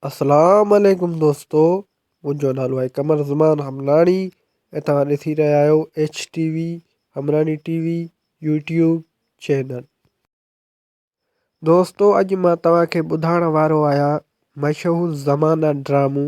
اسلام عليڪم دوستو منهنجو نالو آهي قمر زمان حملاڻي ۽ توهان ڏسي رهيا آهيو H T V Hemlani T V YouTube channel دوستو اڄ مان توهان کي ٻڌائڻ وارو آهيان مشهور زمانه ڊرامو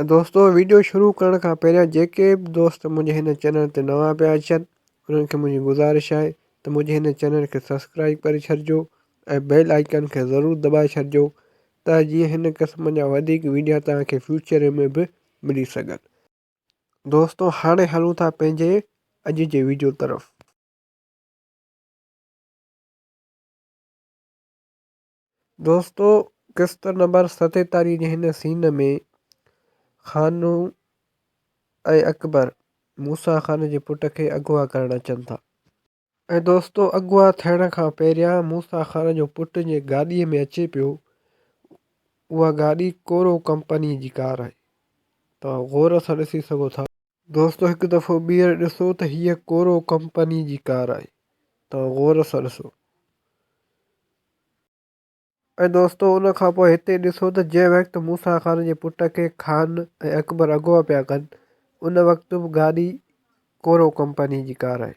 ۽ دوستو ويڊيو شروع ڪرڻ کان پهريان جيڪي به دوست منهنجي هن چينل تي نوان پيا اچن انهن کي منهنجي گذارش آهي ته منهنجي هن چينل کي سبسڪرائيب ڪري ڇڏجو ۽ بيل آئيڪن کي ضرور دٻائي ڇڏجو ته جيئن هن قسم جا وڌيڪ ويڊيا توهان کي فيوچر ۾ به ملي سگهن دوستو هاڻي هلون ٿا پنهنجي اڄ جي ويڊيو طرف دوستو قسط نمبر ستيتاليهه جي هن سين ۾ خانو ۽ اڪبر موسيٰ خان جي پٽ کي اغوا ڪرڻ اچن ٿا ۽ دوستو اغوا ٿيڻ کان پهريان موسيٰ خان جو پٽ جنهن گاڏي ۾ اچي پيو اها گاڏي ڪورو ڪمپني جي ڪار آهي توهان غور سان ڏسي سگهو ٿا. دوستو هڪ دفعو ٻيهر ڏسو ته هيء ڪورو ڪمپني جي ڪار آهي توهان غور سان ڏسو ۽ دوستو ان کان پوء هتي ڏسو ته جنهن وقت موسيٰ خان جي پٽ کي خان ۽ اڪبر اغوا پيا ڪن ان وقت به گاڏي ڪورو ڪمپني جي ڪار آهي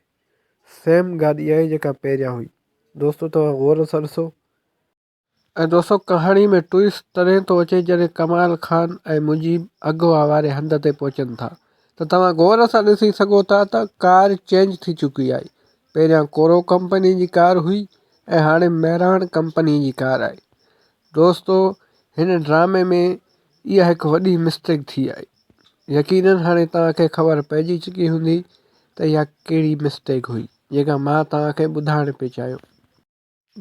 سيم گاڏي آهي جيڪا پهريان هئي دوستو توهان غور سان ڏسو. ۽ دوستو ڪهاڻي ۾ ٽوئسٽ تڏهن ٿو اچي جڏهن ڪمال خان ۽ مجيب اغوا واري هنڌ تي پهچن ٿا ته توهان غور سان ڏسي سگهو ٿا ته ڪار چينج ٿي چڪي آهي پهريان ڪورو ڪمپني جي ڪار هئي ۽ هاڻي مهراڻ ڪمپني جي ڪار آهي دوستو هن ڊرامي ۾ اها هڪ وڏي مسٽيڪ ٿي آهي يقينن هاڻي توهان کي خبر پئجي چڪي هوندي ته اها ڪهڙي مسٽيڪ هئي جيڪا مان توهان کي ٻڌائڻ پئي چاهيو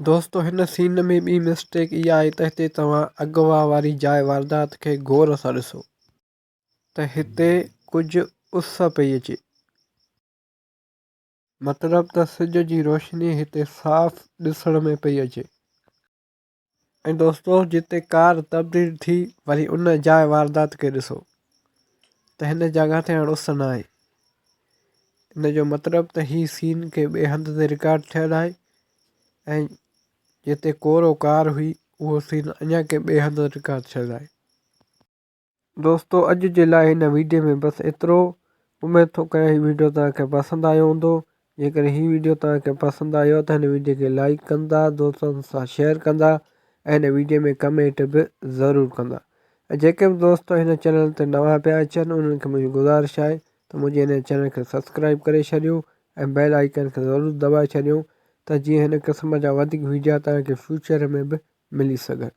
دوستو هن سين ۾ ٻي مسٽيڪ اها آهي ته هتي توهان اغوا واري جاء واردات کي غور سان ڏسو ته هتي ڪجهه اس پئي اچي مطلب ته سج جي روشني هتي صاف ڏسڻ ۾ پئي اچي ۽ دوستو جتي ڪار تبديل ٿي وري ان جاء واردات کي ڏسو ته هن جڳهه تي هاڻ اس ناهي ان جو مطلب ته هي سين ڪنهن ٻئي هنڌ تي رڪارڊ ٿيل آهي ۽ جتي ڪورو ڪار هئي اهو سين اڃان ڪنهن ٻئي هنڌ رڪارڊ ٿيل آهي دوستو اڄ جي لاء هن ويڊيو ۾ بس ايترو اميد ٿو ڪريان هي ويڊيو توهان کي پسند آيو هوندو جيڪڏهن هي ويڊيو توهان کي پسند آيو ته هن ويڊيو کي لائيڪ ڪندا دوستن سان شيئر ڪندا ۽ هن ويڊيو ۾ ڪمينٽ به ضرور ڪندا ۽ جيڪي به دوست هن چينل تي نوان پيا اچن انهن کي منهنجي گذارش آهي ته منهنجي هن چينل کي سبسڪرائيب ڪري ڇڏيو ۽ بيل آئيڪن کي ضرور دٻائي ڇڏيو ته جيئن هن قسم جا وڌيڪ ويڊيا توهان کي فيوچر ۾ به ملي سگهن